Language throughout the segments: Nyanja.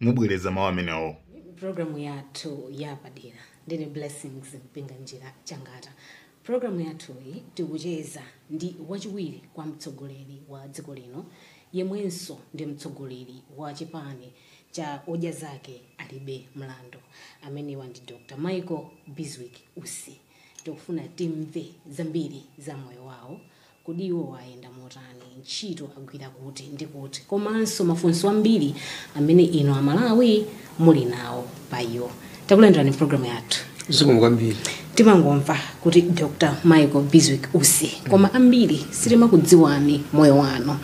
mubwereza mawu amenewo programu yathu yapadera ndine blessings mpinga njira changata programu yathuyi tikucheza ndi wachiwiri kwa mtsogoleri wa dziko lino yemwenso ndi mtsogoleri wa chipani cha odya zake alibe mlandu amenewa ndi dr michael bizwick usi tikufuna timve zambiri za moyo wawo Kuti iwowa ayenda motani? Ntchito agwira kuti ndi kuti? Komanso mafunso ambiri amene inu a Malawi muli nawo pa iwo. Takulandirani m'programu yathu. Zikomo kwambiri. Timangomva kuti Dr. Michael Bizwick Usi, koma ambiri sitimakudziwani moyo wanu.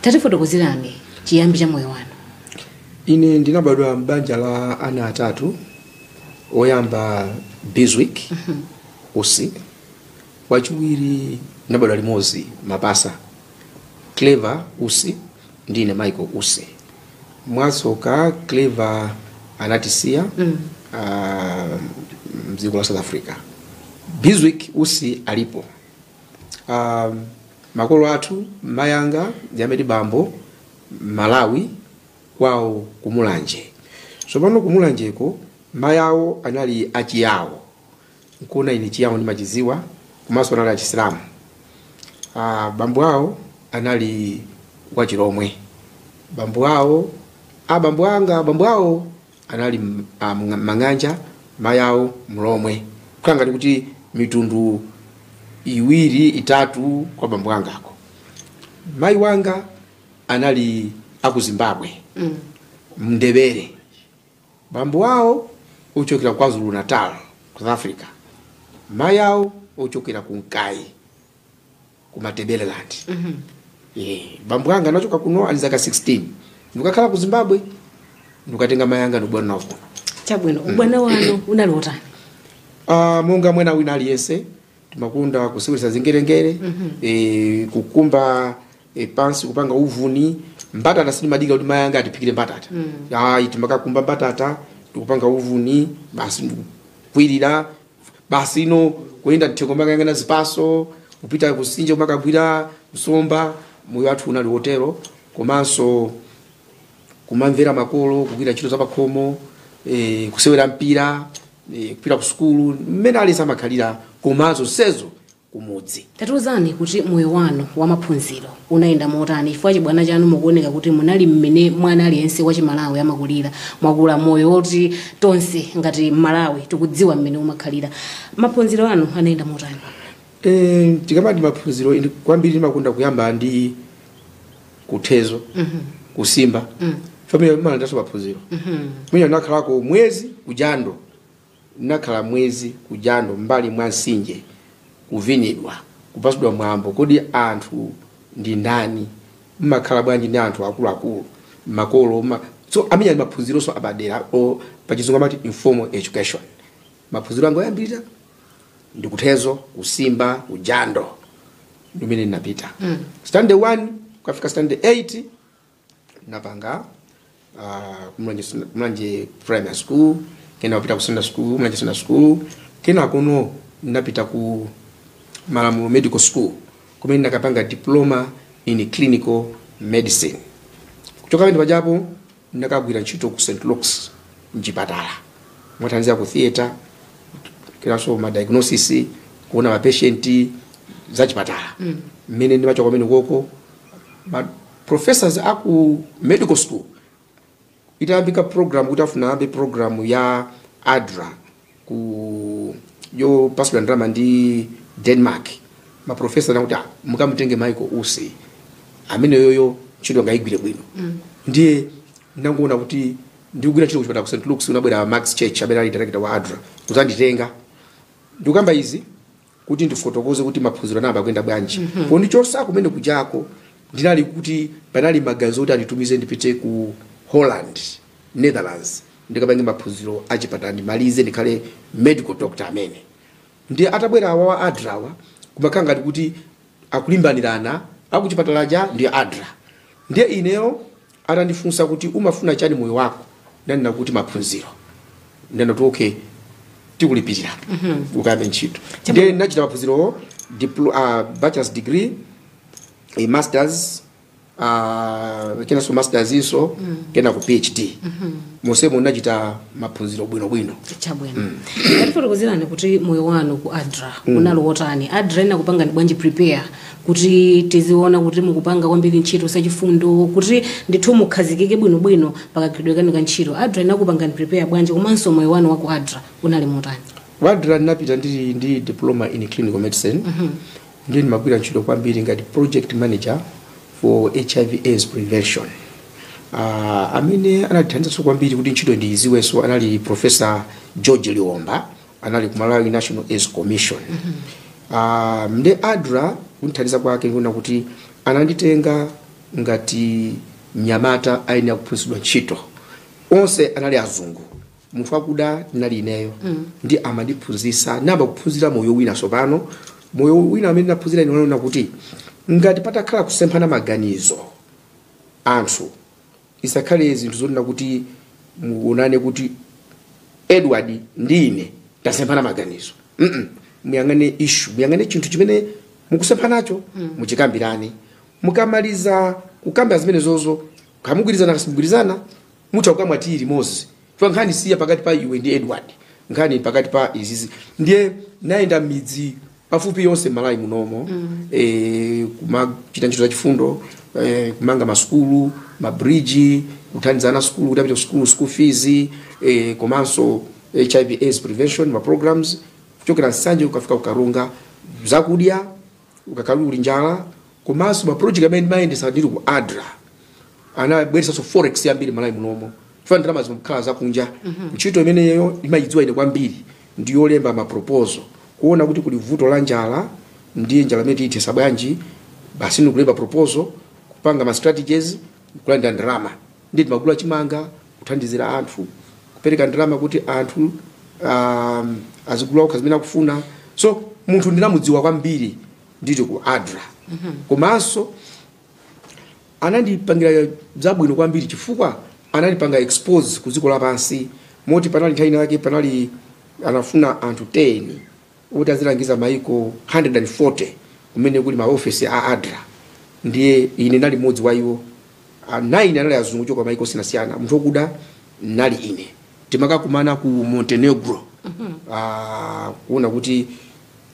Tatifotokozerani chiyambi cha moyo wanu. Ine ndinabadwa m'banja la ana atatu. Woyamba Bizwick Usi, Wachiwiri tinabadwa limodzi mapasa Clever Usi ndi ine Michael Usi. Mwatsoka Clever anatisiya mm. uh, mdziko la South Africa. Bizwick Usi alipo. Uh, makolo athu mayanga ndi bambo Malawi kwawo kumulanje. Tsopano kumulanjeko mayawo anali achiyawo. nkuona ine chiyawo ndimachidziwa komanso anali achisilamu ah, bambo awo anali achilomwe bambo awo ah, bambo anga bambo awo anali m- ah, mga- mang'anja mayi awo mlomwe kukhala ngati kuti mitundu iwiri itatu kwa bambo angako mayi wanga anali aku zimbabwe mm. mndebele Bambo awo ochokera KwaZulu Natal ku South Africa, mayi awo ochokera ku Nkayi ku Matabeleland. Eh, bambo anga anachoka kuno ali ndi zaka 16 ndikukakhala ku Zimbabwe ndikukatenga mayi anga ndikubwera nawo kuno. chabwino ubwana wanu unali wotani Ah, monga mwana wina aliyense timakonda kuseweretsa zingerengere eh, kukumba e, pansi kupanga uvuni mbatata sindimadikira kuti mayi anga atiphikire mbatata ayi timakakumba mbatata ndikupanga uvuni basi ndikukwirira basi ino kuyenda mthengo kumakayang'ana zipatso kupita kusinja kumakagwira nsomba moyo wathu unali wotero komanso kumamvera makolo kugwira ntchito za pakhomo eh, kusewera mpira eh, kupita ku sukulu mmene aliyense amakhalira komanso sezo kumudzi. Tatiuzani kuti moyo wanu wa maphunziro unayenda motani chifukwa chibwana chanu mukuoneka kuti munali mmene mwana aliyense wa chimalawi amakulira. Mwakula moyo woti tonse ngati mmalawi tikudziwa mmene umakhalira. Maphunziro anu anayenda motani? Eh, tikamati maphunziro ine kwambiri ndimakonda kuyamba ndi kuthezo kusimba family amenenso ndi maphunziro kumene nakhalako mwezi kujando Ndinakhala mwezi ku jando m'mbali mwa mtsinje, kuvinidwa, kupatsidwa mwambo. Kodi anthu ndi ndani? Mumakhala bwanji ndi anthu akuluakulu, makolo? Muma... So amene aja maphunzironso apadera pachizungu amati informal education. Maphunziro anga oyambirira ndi kuthezo, kusimba, ku jando ndimene ndinapita. Standard 1 kukafika standard 8 napanga uh, ku Mulanje Sun- ku Mulanje primary school kena kupita ku secondary school ku Mulanje secondary school kena kunoko napita ku malamulo medical school kumene nakapanga diploma in clinical medicine kuchoka pamene pajapo nakagwira ntchito ku st luke's mchipatala kumathandiza ku theatre kenanso ma diagnosis kuona ma patient za chipatala mmene ndimachoka kumene koko ma professors a ku medical school itayambika program kuti afuna ayambe program ya adra yopatsidwa ndalama ndi denmark maprofesa nakuti "Ah, mukamutenge michael usi ameneyoyo ntchito angayigwire bwino ndiye ndangoona kuti ndikugwira ntchito kuchipatala ku st lukes anabwera max church amene ali director wa adra kuzanditenga ndikukamba izi kuti ndifotokoze kuti maphunziro anayamba kuyenda bwanji pondichotsa kumene kujako ndinali kuti panali maganizo kuti anditumize ndipite ku holland netherlands ndikapange maphunziro achipatala ndimalize ndikhale medical doctor amene ndiye atabwera awa wa adra wa kumakhala ngati kuti akulimbanirana akuchipatala ja ndi adra ndiye ineyo Atandifunsa kuti, Umafuna chiyani moyo wako? Ndinanena kuti, Maphunziro. Ananena kuti, Okay, tikulipirira ukayambe ntchito. Ndiye ndinachita maphunzirowo, dipl- ah, bachelor's degree, eh, masters, ah, kenanso masters inanso, kenako PhD. Monsemo ndinachita maphunziro bwinobwino. chabwino tatifotokozerani kuti moyo wanu ku adra unali wotani adra inakupangani bwanji prepare kuti tiziona kuti mukupanga kwambiri ntchito zachifundo kuti ndithu mukhazikike bwinobwino pakagwiridwe kanu ka ntchito adra inakupangani prepare bwanji komanso moyo wanu waku adra unali motani ku adra ndinapita ndili ndi diploma in clinical medicine ndiye ndimagwira ntchito kwambiri ngati project manager for hiv aids prevention uh, amene anandithandizanso kwambiri kuti ntchito ndiyidziwenso anali professor george liwomba anali ku malawi national aids commission Ah, ndiye adra kundithandiza kwake ndikuona kuti ananditenga ngati mnyamata ayenera kuphunzitsidwa ntchito onse anali azungu munthu wakuda ndinali ineyo ndiye amandiphunzitsa ndinayamba kuphunzira moyo wina tsopano moyo wina amene ndinaphunzira ine unali woti ngati patakhala kusemphana maganizo anthu isakhale zinthu zonena kuti muonane kuti edward ndi ine tasemphana maganizo Mm-mm. muyang'ane ishu muyang'ane chinthu chimene mukusemphanacho muchikambirane mukamaliza kukamba zimenezozo kaya mugwirizana kaya simugwirizana mutha kukamwa tiyi limodzi Chifukwa nkhani si ya pakati pa iwe ndi Edward, nkhani ili pakati pa izizi. Ndiye ndayenda mmidzi pafupifupi yonse Malawi munomo eh, kumachita ntchito za chifundo eh, kumanga masukulu mabridge kuthandiza ana asukulu kuti apite ku sukulu school fees eh, komanso hiv aids prevention ma programs kuchokera nsanje kukafika ku karonga zakudya kukakhala kuli njala komanso ma project amene ndimayendesa ndili ku adra anabweresanso forex yambiri mmalawi munomo chifukwa ndalama zimakhala zakunja ntchito imeneyo ndimayidziwa ine kwambiri ndi yolemba ma proposal kuona kuti kuli vuto la njala ndiye njala imeneyi tiyithesa bwanji basi ndikulemba proposal kupanga ma strategies kulandira ndalama Ndiye timagula chimanga kuthandizira anthu, kupereka ndalama kuti anthu um, azigula okha zimene akufuna. So munthu ndinamudziwa kwambiri ndili ku ADRA komanso anandipangira zabwino kwambiri chifukwa anandipanga expose ku dziko lapansi moti panali nthawi yake panali anafuna anthu 10 woti azilangiza maiko 140 kumene kuli maofesi a adra ndiye ine ndinali mmodzi wa iwo Ah, nine anali azungu ochoka maiko osiyanasiyana munthu okuda ndinali ine timakakumana ku montenegro Ah, kuona kuti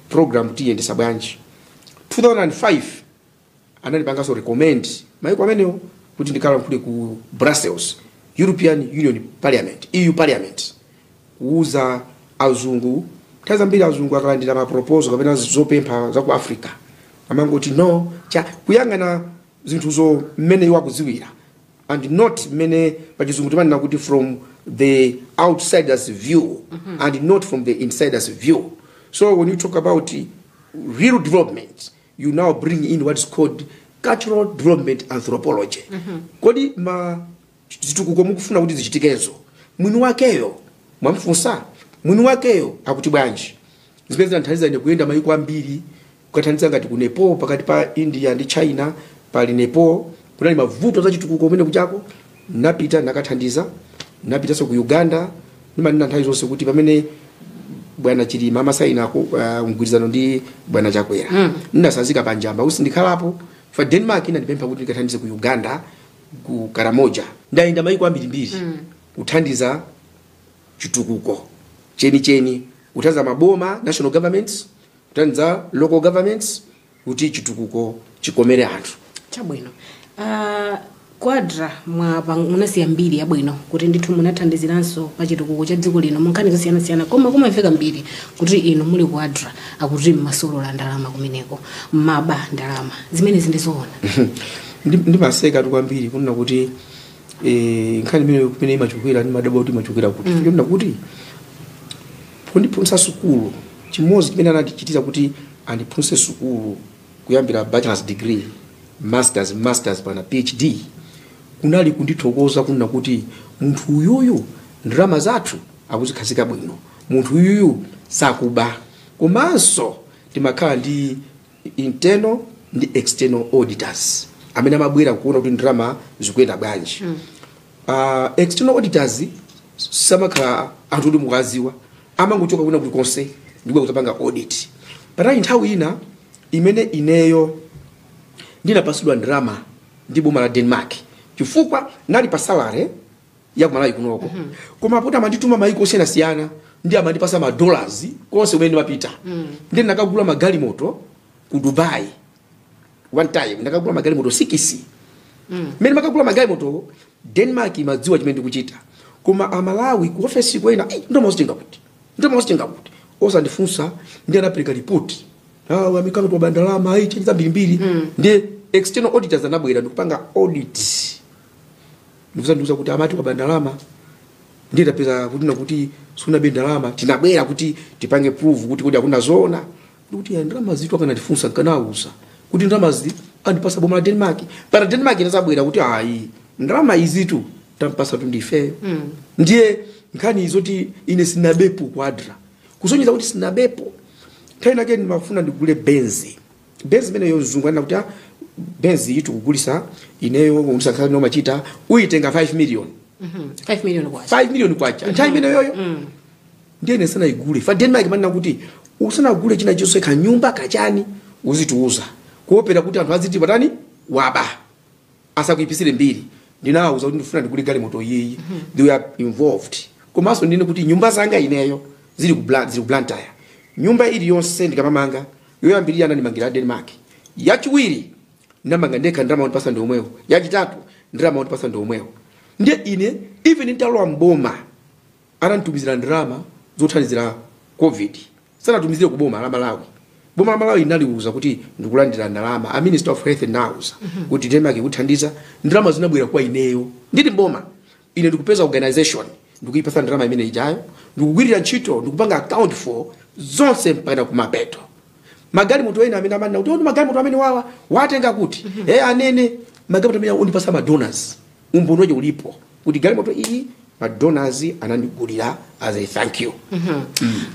program tiyiyendesa bwanji 2005 anandipanganso recommend maiko amenewo kuti ndikalankhule ku brussels european union parliament eu parliament kuuza azungu nthawi zambiri azungu akalandira maproposal kapena zopempha za ku africa amangoti no chifukwa akuyang'ana zinthuzo mmene iwo akudziwira and not mmene pachizungu timanena kuti from the outsiders view and not from the insiders view so when you talk about real development you now bring in what is called cultural development anthropology kodi ma zitukuko mukufuna kuti zichitikezo mwini wakeyo mwamfunsa mwini wakeyo akuti bwanji zimene zinathandiza ine kuyenda mayiko ambiri kukathandiza ngati ku nepal pakati pa india ndi china pali nepal kunali mavuto a zachitukuko kumene kujako Ndinapita, ndinakathandiza, ndinapitanso ku Uganda. Ndimanena nthawi zonse kuti pamene bwana Chilima amasaina ku- ah, mgwirizano ndi bwana Chakwera ndinasazika pa Njamba kuti sindikhalapo chifukwa Denmark inandipempha kuti ndikathandize ku Uganda ku Karamoja. Ndayenda maiko ambirimbiri kuthandiza chitukuko chenicheni kuthandiza maboma national governments kuthandiza local governments kuti chitukuko chikomere anthu chabwino uh, ku ADRA mwapa munasiya mbiri yabwino kuti ndithu munathandiziranso pa chitukuko cha dziko lino munkhani zosiyanasiyana koma kumamveka mbiri kuti inu muli ku ADRA akuti mmasolola ndalama kumeneko mmaba ndalama zimenezi ndizoona Ndi- ndimaseka tu kwambiri kunena kuti eh, nkhani imene kumene imachokera ndimadabwa kuti imachokera kuti kunena kuti kundiphunzitsa sukulu chimodzi chimene anatichitira kuti andiphunzitse sukulu kuyambira bachelors degree, masters, masters mpakana PhD kunali kundithokoza kunena kuti munthu uyuyu ndalama zathu akuzikhazika bwino, munthu uyuyu sakuba, komanso timakhala ndi internal ndi external auditors amene amabwera kuona kuti ndalama zikuyenda bwanji. Uh, external auditors samakhala anthu oti mukuwaziwa amangochoka kwina kulikonse ndikubwera kuzapanga audit panali nthawi ina imene ineyo ndinapasidwa ndalama ndi boma la Denmark chifukwa ndinali pa salary ya kumalawi kunoko koma poti amandituma maiko osiyanasiyana nde amandipasa madollars konse kumene ndimapita nde ndinakagula magalimoto ku Dubai one time ndinakagula magalimoto sikisi mm. mene mmakagula magalimoto Denmark imadziwa chimene ndikuchita koma amalawi ku ofesi kunena "Ei, ndalama wazitenga kuti ndalama wazitenga kuti osandifunsa nde anapereka ripoti amikano kuti waba ndalama ayi chani zambirimbiri nde external auditors anabwera ndikupanga audit ndikuzandiuza kuti amati waba ndalama ndiye tapeza kuti nakuti sunabe ndalama tinabwera kuti tipange prove kuti kodi akuna zoona ndikuti ya ndalama izitu akanandifunsa nkanawauza kuti ndalamazi andipasa boma la Denmark mpakana Denmark inazabwera kuti ayi ndalama izitu tampasatu ndifeyo ndiye nkhani zoti ine sinabepo ku ADRA kusonyeza kuti sinabepo nthawi inayake ndimafuna ndigule benzi benzi imeneyo mzungu anena kuti "Ah, benzi iyi tikukugulisa ineyo ukanisakhala iwe umachita uyitenga 5 million 5 million kwacha 5 million kwacha nthawi imeneyoyo ndiye ine ndisanaigule a denmark amanena kuti usanagule china chilichonse kanyumba kachani uzitiuza kuopera kuti anthu aziti pati waba asakuipisire mbiri ndinawauza kuti ndifuna ndigule galimoto iyiyi they were involved komanso ndinene kuti nyumba zanga ineyo zili ku Bla- zili ku blantyre nyumba iliyonse ndikamamanga yoyambirira anandimangira denmark yachiwiri ndamanga ndekha ndalama andipasa ndi omwewo yachitatu ndalama andipasa ndi omwewo ndiye ine even nditalowa mboma ananditumizira ndalama zothandizira covid sanatumizire ku boma la malawi boma la malawi linaliuza kuti ndikulandira ndalama a minister of health ndinawauza kuti denmark ikuthandiza ndalama zinabwera kwa ineyo ndili mboma ine ndikupeza organization ndikuyipatsa ndalama imene ijayo ndikugwirira ntchito ndikupanga account for zonse mpaka kumapeto magalimoto ena amene amanena kuti oh magalimoto amene awawa watenga kuti eh anene magalimoto amene anandipasa madonors umboni wache ulipo kuti galimoto iyi madonors anandigulira as a thank you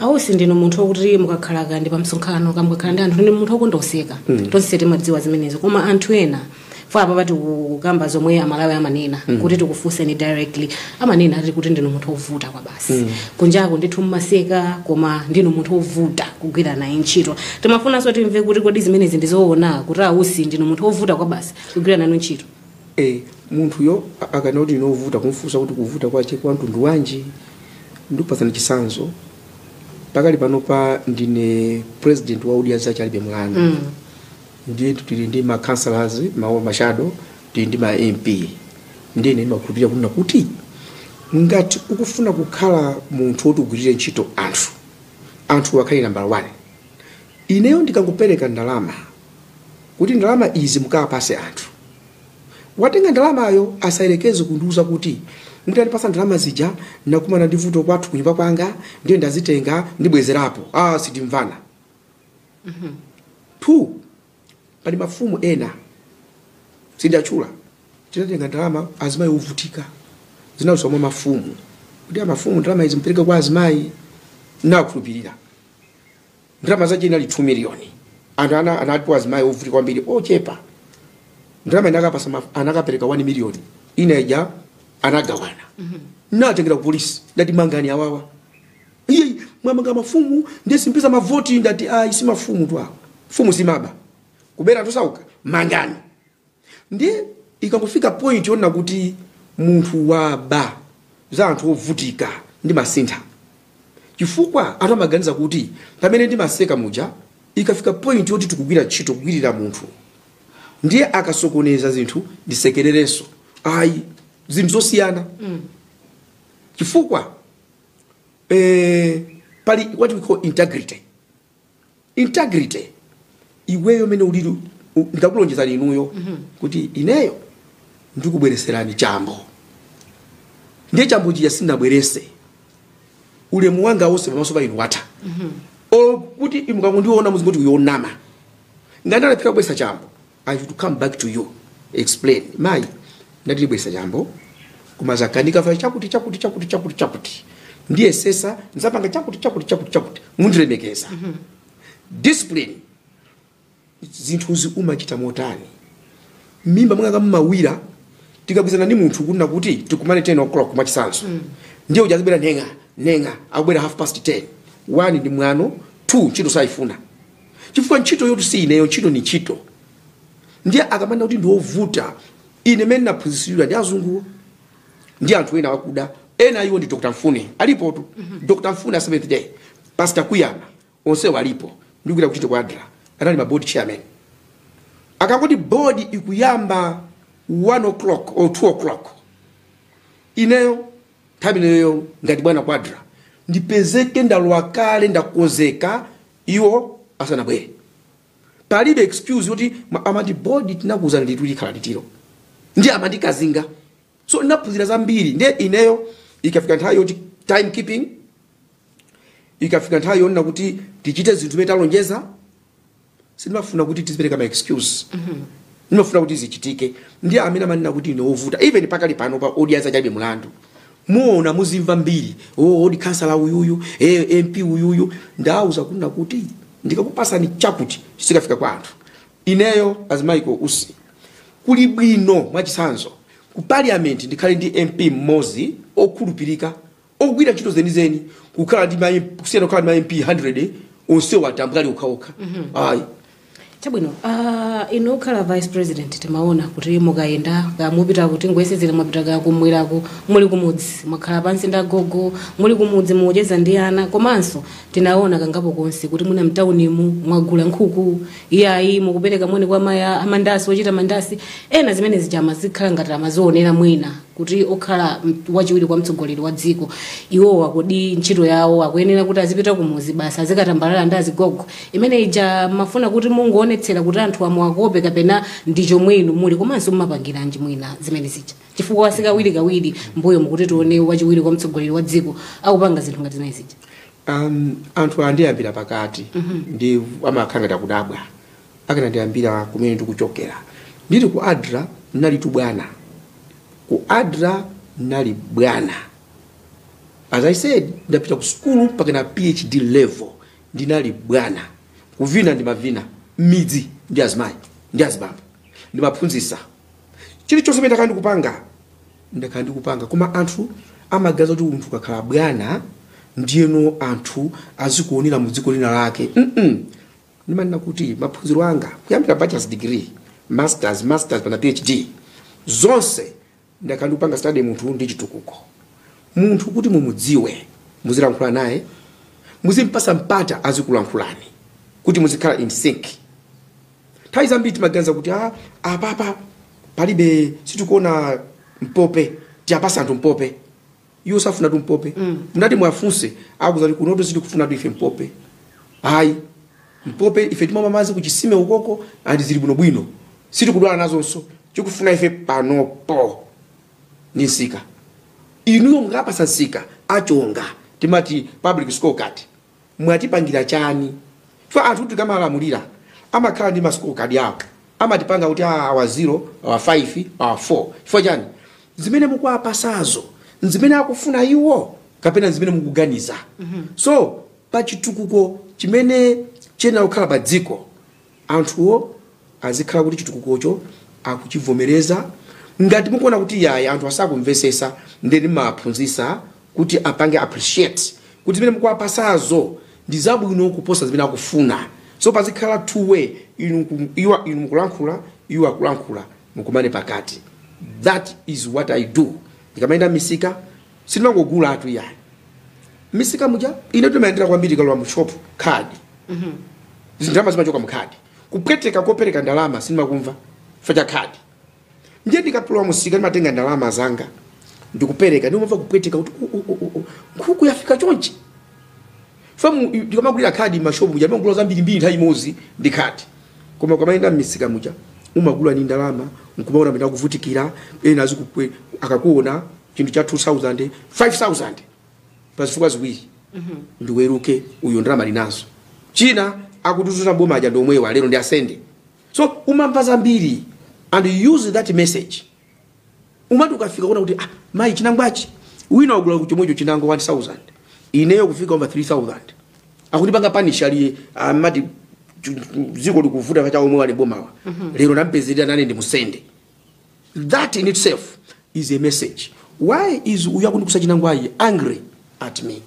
awusi ndinu munthu wokuti mukakhala kaya ndi pa msonkhano kaya mukakhala ndi anthu ndinu munthu wokonda kuseka tonse timadziwa zimenezo koma anthu ena ife apapa tikukamba zomwe amalawi amanena kuti tikufunseni directly amanena ati kuti ndinu munthu wovuta kwabasi kunjako ndithu mmaseka koma ndinu munthu wovuta kugwira naye ntchito timafunanso timve kuti kodi zimenezi ndizoona kuti awusi ndinu munthu wovuta kwabasi kugwira nanu ntchito e munthuyo a- akanena kuti ndine ovuta kumfunsa kuti kuvuta kwache kwa mtundu wanji ndikupatsani chisanzo pakali panopa ndine president wa odya zache alibe mlandu mm. ndiye tili ndi ma councillors ma shadow tili ndi ma mp ndiye ine ndimakhulupirira kunena kuti ngati ukufuna kukhala munthu woti ugwirire ntchito anthu anthu akhale nambala 1 ineyo ndikangopereka ndalama kuti ndalama izi mukapase anthu. Watenga ndalamayo asayerekeze kundiuza kuti mutandipasa ndalama zija ndinakumana ndi vuto kwathu kunyumba kwanga ndiye ndazitenga ndibwezerapo. Ah, sitimvana. Two, pali mafumu ena sindiatchula tinatenga ndalama azimayi ovutika zinadzera mwa mafumu kuti amafumu ndalama izi mpereke kwa azimayi nakhulupirira ndalama zace inali 2 miliyoni anthu anali azimayi ovutika kwambiri ochepa ndalama inakapasa ma- anakapereka 1 miliyoni ina ija anagawana natengera ku polisi ndati mangani awawa iii mwamanga mafumu ndiye simpeza mavoti ndati ayi si mafumu tu awa mfumu simaba kubera anthu osauka mangani ndiye ikangofika point yonena kuti munthu waba za anthu ovutika ndimasintha chifukwa anthu amaganiza kuti pamene ndimaseka muja ikafika point yoti tikugwira ntchito kugwirira munthu ndiye akasokoneza zinthu sindisekereranso ayi zinthu zosiyana chifukwa eh, pali what we call integrity integrity iweyo mene ulili ndikakulonjezani inuyo kuti ineyo ndikubwereserani chambo ndiye chambo chija sindinabwerese ulemu wanga wonse pamaso pa inu watha olo kuti mukamandiona muzingoti uyo wonama ngati ndalephera kubweresa chambo I should come back to you explain mayi ndati ndibwerese chambo koma zakanika chifukwa chakuti chakuti chakuti chakuti chakuti ndiye sesa ndizapanga chakuti chakuti chakuti chakuti mundilemekeza discipline zinthuzi umachita motani mimba mwanga mumawira tikagwirizana ndi munthu kunena kuti tikumane 10 o'clock mwachisanso ndiye uja azibwera nenga nenga akubwera half past 10 1 ndi mwano 2 ntchito sayifuna chifukwa ntchitoyotu si ineyo ntchito ni ntchito ndiye akamanena kuti ndiwovuta ine mene naphunzitsidwa ndi azunguwo ndi anthu ena akuda ena iwo ndi dr mfune alipotu dr mfune a seventh day pastor kuyama, onsewo alipo ndikuita kuchita ku adra anali maboard chairman akangoti board ikuyamba 1 o'clock or 2 o'clock ineyo nthawi ineyo ngati bwana ku adra ndipezeke ndalowa kale ndakonzeka iwo asanabwere palibe excuse yoti ma- amati bodi tinakuza ndithu likhala litiro ndi amati kazinga so ndinaphunzira zambiri ndiye ineyo ikafika nthawi yoti time keeping ikafika nthawi yonena kuti tichite zinthu zimene talonjeza sindimafuna kuti tizipereka ma excuse ndimafuna kuti zichitike ndi amene amanena kuti ine wovuta even pakali pano pa odya zake alibe mulandu muona muzimva mbiri oh, oti khansala uyuyu eh, mp uyuyu ndauza kunena kuti ndikakupasani chakuti chisakafika kwa anthu ineyo as michael usi kuli bwino mwachitsanzo ku parliament ndikhale ndi mp mmodzi okhulupirika ogwira ntchito zenizeni kukhala ndi ma MP kusiyana kukhala ndi ma MP 100 onsewo atambwali okhaokha ayi chabwino uh, inu pokhala vice president timaona kuti mukayenda ka mupita kuti tingoyerekezera mwapita ka kumweraku muli kumudzi mwakhala pansi ndi agogo muli kumudzi mukucheza ndi ana komanso tinaona kangapo konse kuti muli mtaunimu mwagula nkhuku iyayi mukupereka moni kwa amayi amandasi ochita mandasi ena zimene zija amazikhala ngati amazionera mwina kuti okhala wachiwiri kwa mtsogoleri wa dziko iwowo kodi ntchito yawo akuyenera kuti azipita kumuzi basi azikatambalala ndi azigogo imene ija mumafuna kuti mungoonetsera kuti anthu muwakope kapena ndi chomwe inu muli komanso mumapangiranji mwina zimene zija chifukwa sikawirikawiri mbuyomu kuti tione wachiwiri kwa mtsogoleri wa dziko akupanga zinthu ngati zimene zija um, anthu andiyambira pakati ndi amene amakhala ngati akudabwa akanandiyambira kumene ndikuchokera ndili ku adra ndinalitu bwana ku adra ndinali bwana as i said ndapita ku sukulu mpakana phd level ndinali bwana kuvina ndimavina mmidzi ndi azimayi ndi azibambo ndimaphunzisa chilichonse chimene ndakhala ndikupanga ndakhala ndikupanga koma anthu amaganiza kuti munthu akakhala bwana ndiyeno anthu azikuonera mu dziko lina lake mm -mm. Ndimanena kuti maphunziro anga kuyambira bachelor's degree, masters, masters mpakana PhD zonse ndakhala ndikupanga study munthu ndi chitukuko. Munthu kuti mumudziwe muzilankhula naye, muzimpasa mpata azikulankhulani kuti muzikhala in sync. Nthawi zambiri timaganiza kuti ah, apapa palibe sitikuona mpope, tiwapasa anthu mpope. iwo sakufunatu mpope mutati muwafunse akuuzani kuti kunotu sitikufunatu ife mpope ayi mpope ife timamwa madzi kuchisime ukoko andi zili bwinobwino sitikudwala nazonso chikufuna ife panopo ni nsika inuyo mukawapasa nsika akuchongani timati public scorecard mwatipangira chani chifukwa anthu tikamalamulira amakhala ndi ma score card awo amatipanga kuti "Ah, awa 0 awa 5 awa 4 chifukwa chani zimene mukuwapasazo nzimene akufuna iwo kapena zimene mukuganiza so pa chitukuko chimene chiyenera kukhala pa dziko anthuwo azikhala kuti chitukukocho akuchivomereza ngati mukuona kuti yayi anthu asakumvesesa nde ndimawaphunzisa kuti apange appreciate kuti zimene mukuwapasazo ndi zabwino kuposa zimene akufuna so pazikhala two way inu nku- iwa inu mukulankhula iwo akulankhula mukumane pakati that is what i do ndikamayenda mmisika sindimangogulatu yayi mmisika muja ine ndimayendera kwambiri ukalowa mu shop khadi zindalama zimachoka mkhadi kupweteka kopereka ndalama sindimakumva chifukwa cha khadi ndiye ndikalowa mumsika ndimatenga ndalama zanga ndikupereka ndimamva kupweteka kuti "U- u- u- u- u, nkhuku yafika chonchi chifukwa ndikamagulira khadi mmashopu muja ndimagula zambirimbiri nthawi imodzi ndi khadi koma ukamayenda mmisika muja umagula ni ndalama nkumaona amene akuvutikira ena azikukwe akakuona chinthu cha 2000 5000 pa zifukwa ziwiri ndiweruke uyo ndalama linazo china akutizuza boma aja ndi omwewa lero ndi asende so umamva zambiri and you use that message umati ukafika kuona kuti ah, mayi chinangwachi wina wagula chomwecho chinangwa 1000 ineyo kufika over 3000 akundipanga panish ali amati dziko likuvuta paja omwe a bomawa lero nampezerera nane ndimusende That in itself is a message. Why is wondigulitsa chinangwayu angry at me?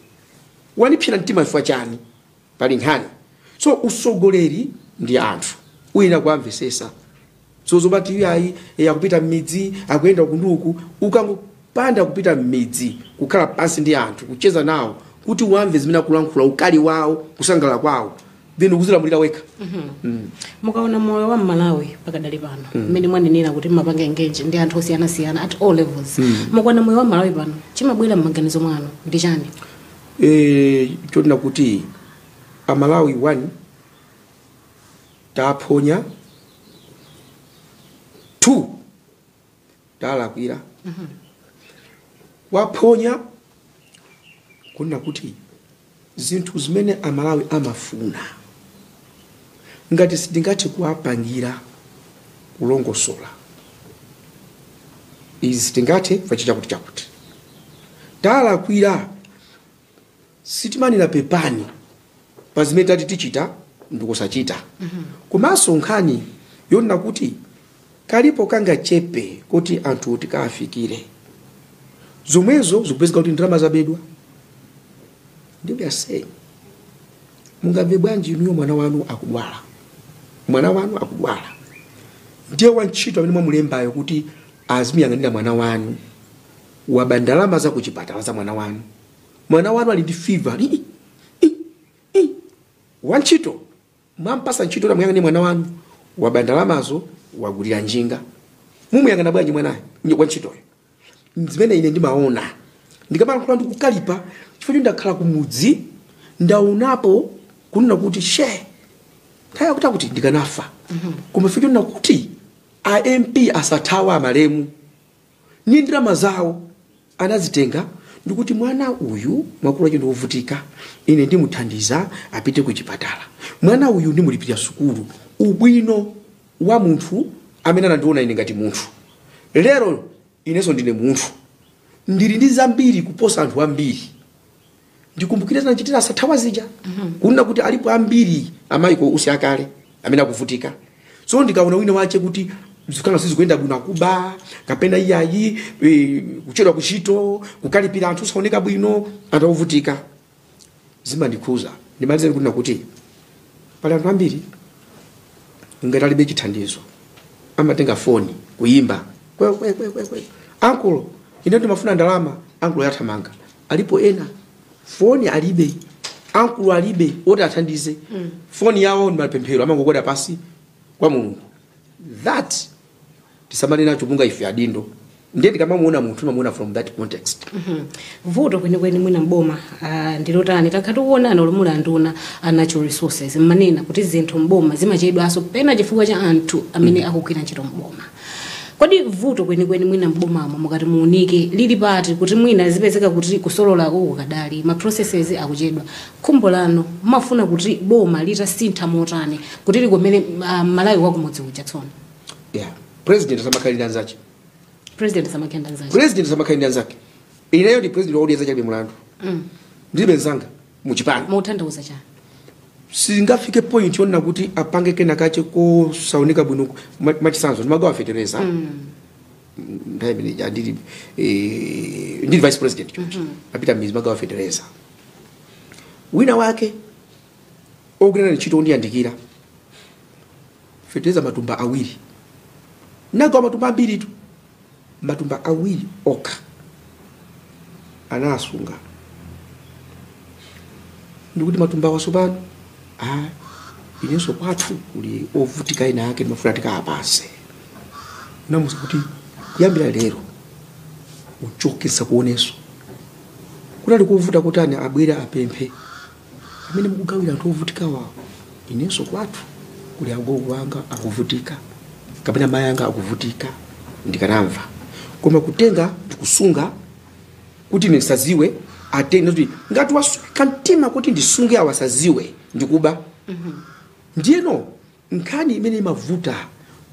Wanipsira mtima chifukwa chani pali nkhani. So usogoleri ndi anthu uyenera kuamvesesa so zomati iye ayi eh, akupita mmidzi akuyenda uku ndi uku ukangopanda kupita mmidzi kukhala pansi ndi anthu kucheza nawo kuti uwamve zimene akulankhula ukali wawo kusangalala kwawo then ukuzilamulira wekha mukaona moyo wa mmalawi pakadali pano mmene mwanenera kuti mmapanga engage ndi anthu osiyanasiyana at all levels mukaona moyo wa mmalawi pano chimabwera mmaganizo mwanu ndi chani Eh, chonena kuti amalawi 1 taphonya 2 talakwira taphonya kunena kuti zinthu zimene amalawi amafuna ngati sitingathe kuwapangira kulongosola izi sitingathe chakuti chakuti talakwira sitimanena pepani pa zimene tati tichita ndikusachita komanso nkhani yonena kuti kalipo kangachepe kuti anthu tikawafikire zomwezo zikupezeka kuti ndalama zabedwa ndiye I say mungamve bwanji inuyo mwana wanu akudwala mwana wanu akudwala ndiye wantchito amene mwamulembayo kuti azimuyang'anira mwana wanu waba ndalama za kuchipatala za mwana wanu mwana wanu ali ndi fever wantchito mwampasa ntchito tamuyang'anira mwana wanu waba ndalamazo wagulira njinga mumuyang'ana bwanji mwanayo nye- wantchitoyo zimene ine ndimaona ndikamalankhula ndikukalipa chifukwa ndakhala kumudzi ndaonapo kunena kuti she nthawi yakuti akuti ndikanafa koma chifukwa chonena kuti a mp asathawa amalemu ni ndalama zawo anazitenga ndikuti mwana uyu makolo ake ndi ovutika ine ndimuthandiza apite ku chipatala mwana uyu ndimulipirira sukulu ubwino wa munthu amene anandiona ine ngati munthu lero inenso ndine munthu ndili ndi zambiri kuposa anthu ambiri ndikumbukira zinachitikira asathawa zija kunena kuti alipo ambiri amayiko osiyanasiyana amene akuvutika so ndikaona wina wache kuti zinthu sizikuyenda bwino akuba kapena iyayi eh, kuchedwa kuntchito kukalipira anthu osaoneka bwino anthu akuvutika zimandikhuza ndimalize kunena kuti pali anthu ambiri ngati alibe chithandizo amatenga foni kuyimba kwe, kwe, kwe, kwe, kwe. ankulo ine ndimafuna ndalama ankulo yathamanga alipo ena foni alibe ankulo alibe oti athandize foni yawo ndi mapemphero amangogwada pansi kwa mulungu that tisamale nacho monga ife adindo ndiye ndikamamuona munthu ndimamuona from that context Mhm. vuto kwenikweni mwina mboma ah, ndilotani takhala tikuona muli nduna ya natural resources mumanena kuti zinthu mboma zimachedwanso pena chifukwa cha anthu amene akugwira ntchito mboma Kodi vuto kwenikweni mwina m'bomamo mukati muunike lili pati kuti mwina zipezeka kuti kusololaku kukadali, ma processes akuchedwa? Khumbo lanu mumafuna kuti boma litasintha motani kuti likomere m'malawi wakumudzi uja tsono? Yeah. President asamakhala ndi anzache. President asamakhala ndi anzache. President asamakhala ndi anzake. Ineyo ndi president wa Odya Zake Alibe Mlandu. Mm. Ndilibe nzanga. mu chipani mutanthauza chani singafike point yonena kuti apange kena kache kosaoneka bwino ma- machisanzo ndimagawa fetereza nthawi imene ija ndili eh, ndili vice president choncho kupita m'midzi ndimagawa fetereza wina wake ogwira naye ntchito ondiyandikira fetereza matumba awiri ndinagawa matumba ambiritu matumba awiri okha anasunga ndikuti matumba awa tsopano ah, inenso kwathu kuli ovutika ena ake ndimafuna ndikapase ndinamuuza kuti kuyambira lero uchoke ndisakuonenso kunali kuvuta kutani abwere apemphe mmene mukugawira anthu ovutikawa inenso kwathu kuli agogo anga akuvutika kapena mayi anga akuvutika ndikanamva koma kutenga ndikusunga kuti ine ndisaziwe atenge kuti ngati wasweka mtima kuti ndisunge awa asaziwe ndikuba ndiyeno nkhani imene imavuta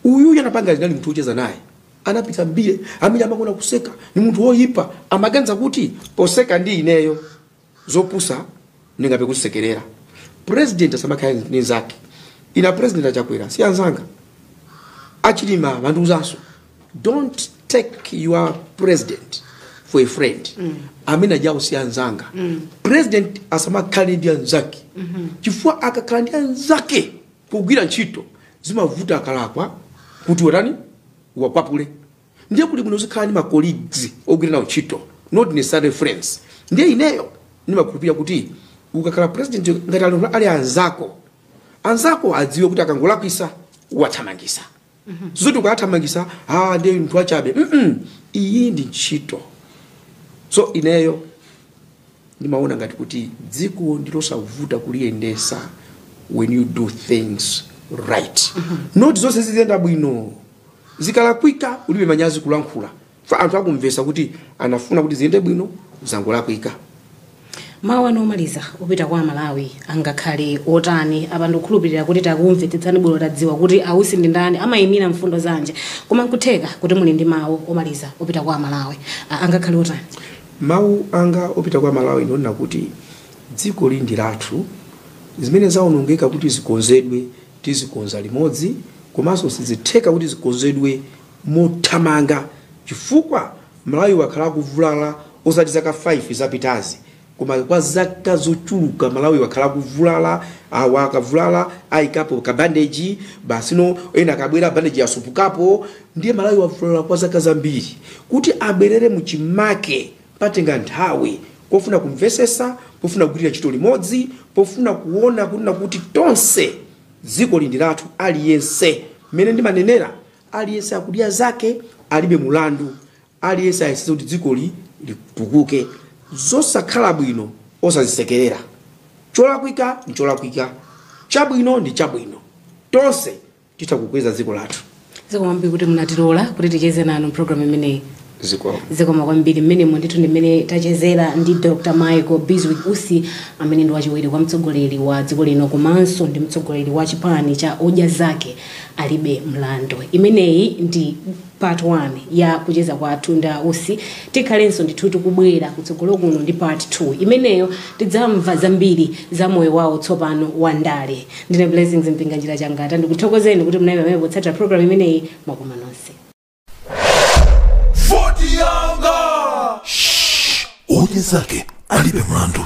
uyuyu anapanga zinali munthu wocheza naye anapita mbali amene amakonda kuseka ni munthu woyipa amaganiza kuti poseka ndi ineyo zopusa ndingathe kuzisekerera president asamakhale ndi nzake inenso president achakwera si anzanga achilima amandiuzanso don't take your president for a friend amene aja si anzanga president asamakhale ndi anzake chifukwa akakhala ndi anzake kugwira ntchito zimavuta akalakwa kuti watani wakwapule ndiye kuli bwino uzikhala ndi ma colleagues ogwira nawo ntchito not necessarily friends ndiye ineyo ndimakhulupirira kuti ukakhala president ngati ali ali anzako anzako adziwe kuti akangolakwisa wathamangisa zoti ukathamangisa ah ndiye munthu wachabe mm iyi ndi ntchito so ineyo ndimaona ngati kuti dziko ndilosavuta kuliyendesa when you do things right not zonse ziziyenda bwino zikalakwika ulibe manyazi kulankhula fa anthu akumvesa kuti anafuna kuti ziyende bwino zangolakwika mawu anu omaliza opita kwa amalawi angakhale otani apa ndikukhulupirira kuti takumvetsetsani bwino tadziwa kuti a Usi ndi ndani amayimira mfundo zanji koma nkutheka kuti muli ndi mawu omaliza opita kwa amalawi A- angakhale otani mawu anga opita kwa amalawi ndi onena kuti dzikoli ndi lathu zimene zaonongeka kuti zikonzedwe Tizikonza limodzi komanso sizitheka kuti zikonzedwe mothamanga chifukwa Malawi wakhala akuvulala osati zaka 5 zapitazi koma kwa zaka zochuluka Malawi wakhala akuvulala awa akabwera ayikapo ka bandeji basi no ena akabwera bandeji yasupukapo ndiye Malawi wavulala kwa zaka zambiri kuti abwerere mu chimake Patenga nthawi pofunika kumvesesa, pofunika kugwirira ntchito limodzi, pofunika kuona kunena kuti tonse dzikoli ndi lathu aliyense. Mmene ndimanenera aliyense akudya zake alibe mulandu, aliyense ayesetse kuti dzikoli litukuke. Zosakhala bwino osazisekerera. Cholakwika ndi cholakwika, chabwino ndi chabwino. Tonse titha kukweza dziko lathu zikomo kwambiri kuti munatilola kuti ticheze nanu mpulogalamu imeneyi zikomo zikomo kwambiri mmenemo ndithu ndi mmene tachezera ndi dr michael bizwick usi amene ndi wachiwiri kwa mtsogoleri wa dziko lino komanso ndi mtsogoleri wa chipani cha odya zake alibe mlandu imeneyi ndi part 1 ya kucheza kwathu ndi a usi tikhalenso ndithu tikubwera kutsogolo kuno ndi part 2 imeneyo tidzamva zambiri za moyo wawo tsopano wa ndale ndine blessings mpinganjira changata ndikuthokozeni kuti mnali amene potsatira program imeneyi mwakoma nonse Voti yanga! Shh! Odya zake alibe mlandu.